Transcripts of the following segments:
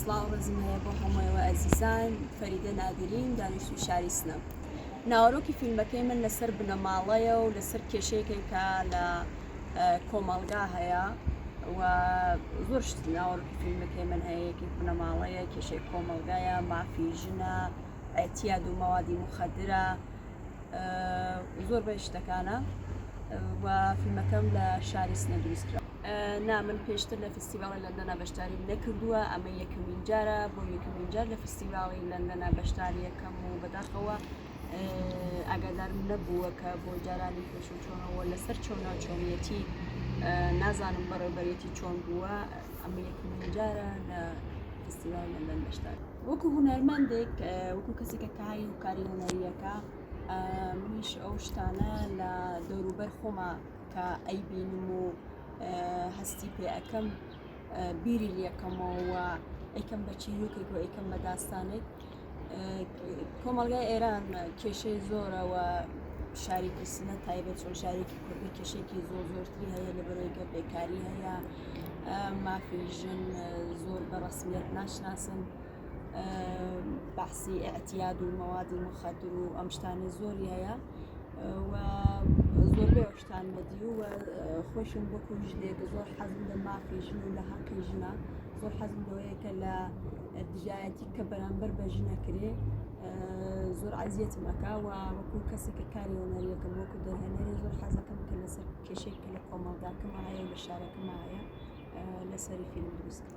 سڵاو ڕزمەیە بۆ هەمووەوە ئەزیزان فەریدە نادرین دانیشتوی شاری سنە ناوەرۆکی فیلمەکەی من لەسەر بنەماڵەیە و لەسەر کێشەیەکێکە لە کۆمەڵگا هەیە و زۆر شتی ناوەڕ فیلمەکەی من هەیە یەکی بنەماڵەیە کێشەی کۆمەڵگایە مافی ژنە ئەتیاد و مەوادی مخەدرە زۆر بە شتەکانە و فیلمەکەم لە شاری سنە دروستکرا نا من پێشتر لە فستیڤڵی لەندەنا بەشداری نەکردووە ئەمە یەکەمین جارە بۆ یەکەمین جار لە فستیڤڵی لەندەنا بەشداریەکەم و بەداخەوە ئاگادارم نەبووە کە بۆ جارانی پێشوو چۆنەوە لەسەر چۆن ناچۆنیەتی نازانم بەڕێبەرێتی چۆن بووە ئەمە یەکمین جارە لە فستیڤال لەندەن بەشدار وەکو هونەرمەندێک وەکو کەسێکە کاری و کاری هونەریەکە منیش ئەو شتانە لە دەوروبەر خۆما کە ئەیبینم و هەستی پێ ئەەکەم بیری لەکەمەوە ئەیکەم بە چیرۆکێک و ئەیکەم بە داستانێک کۆمەڵگای ئێران کێشەی زۆرە و شارێکی سنە تایبەت چۆن شارێکی کوردی کێشێکی زۆر زۆرتری هەیە لە بەرۆیگە بێکاری هەیە مافی ژن زۆر بە ڕسمیت ناشناسن بەحسی ئەتیاد و مەوادی مخدر و ئەم شتانە زۆری هەیە و زۆربەی شتان نەدیوو و خۆشم وەکو ژنێک زۆر حەزم لە مافی ژن و لە حەقی ژنە زۆر حەزم لەوەیە کە لە دژایەتی کە بەرامبەر بە ژنە کرێ زۆر عزیەتم ئەکا و وەکو کەسێک کە کاری هۆنەریەکەم وەکو دەرهێنەری زۆر حەزەکەم کە لەسەر کێشێک کە لە کۆمەڵگاکەمە هەیە و لە شارەکەمە هەیە لەسەری فیلم دروستکە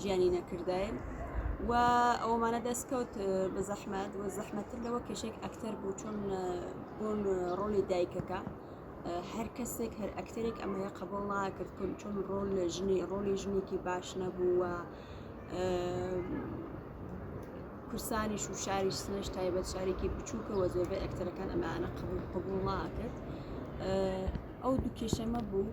ژیانی نەکردین و ئەومانە دەستکەوت بە زەحمەت و زەحمەتتر لەوە کێشێک ئەکتەر بوو چۆن بۆن ڕۆلی دایکەکە هەر کەسێک هەر ئەکتەرێک ئەمەیە قبول ناکرد کن چۆن ڕۆل لە ژنی ڕۆلی ژنێکی باش نەبوو و کورسانیش و شاریش سنەش تایبەت شارێکی بچووکە وە زۆربەی ئەکتەرەکان ئەمانە قبول قبول ناکرد ئەو دوو کێشەمە بوو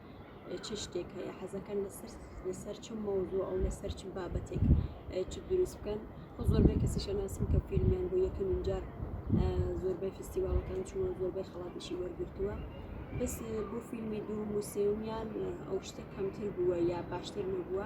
چ شتێک هەیە حەزەکەن لەسەر لەسەر چ مەوزوع و لەسەر چ بابەتێک چ دروست بکەن خۆ زۆربەی کەسی شەناسم کە فیلمیان بۆ یەکەمین جار زۆربەی فستیڤاڵەکان چووە زۆربەی خەڵاتیشی وەرگرتووە بەس بۆ فیلمی دووم و سێومیان ئەو شتە کەمتر بووە یا باشتر نەبووە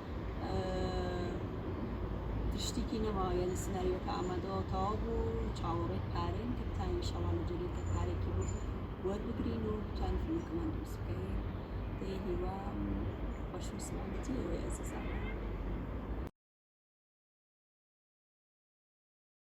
شتێکی نەماوە یعنی سناریۆکە ئامادەوە تەواو بوو چاوەڕێ پارەین کە بتان ئینشاڵا لە جێگەی کە پارێکی بوو وەربگرین و بتان فیلمەکەمان دروست بکەین دەی هیوام خۆش و سڵامەتی ئێوەی ئەزیزەکان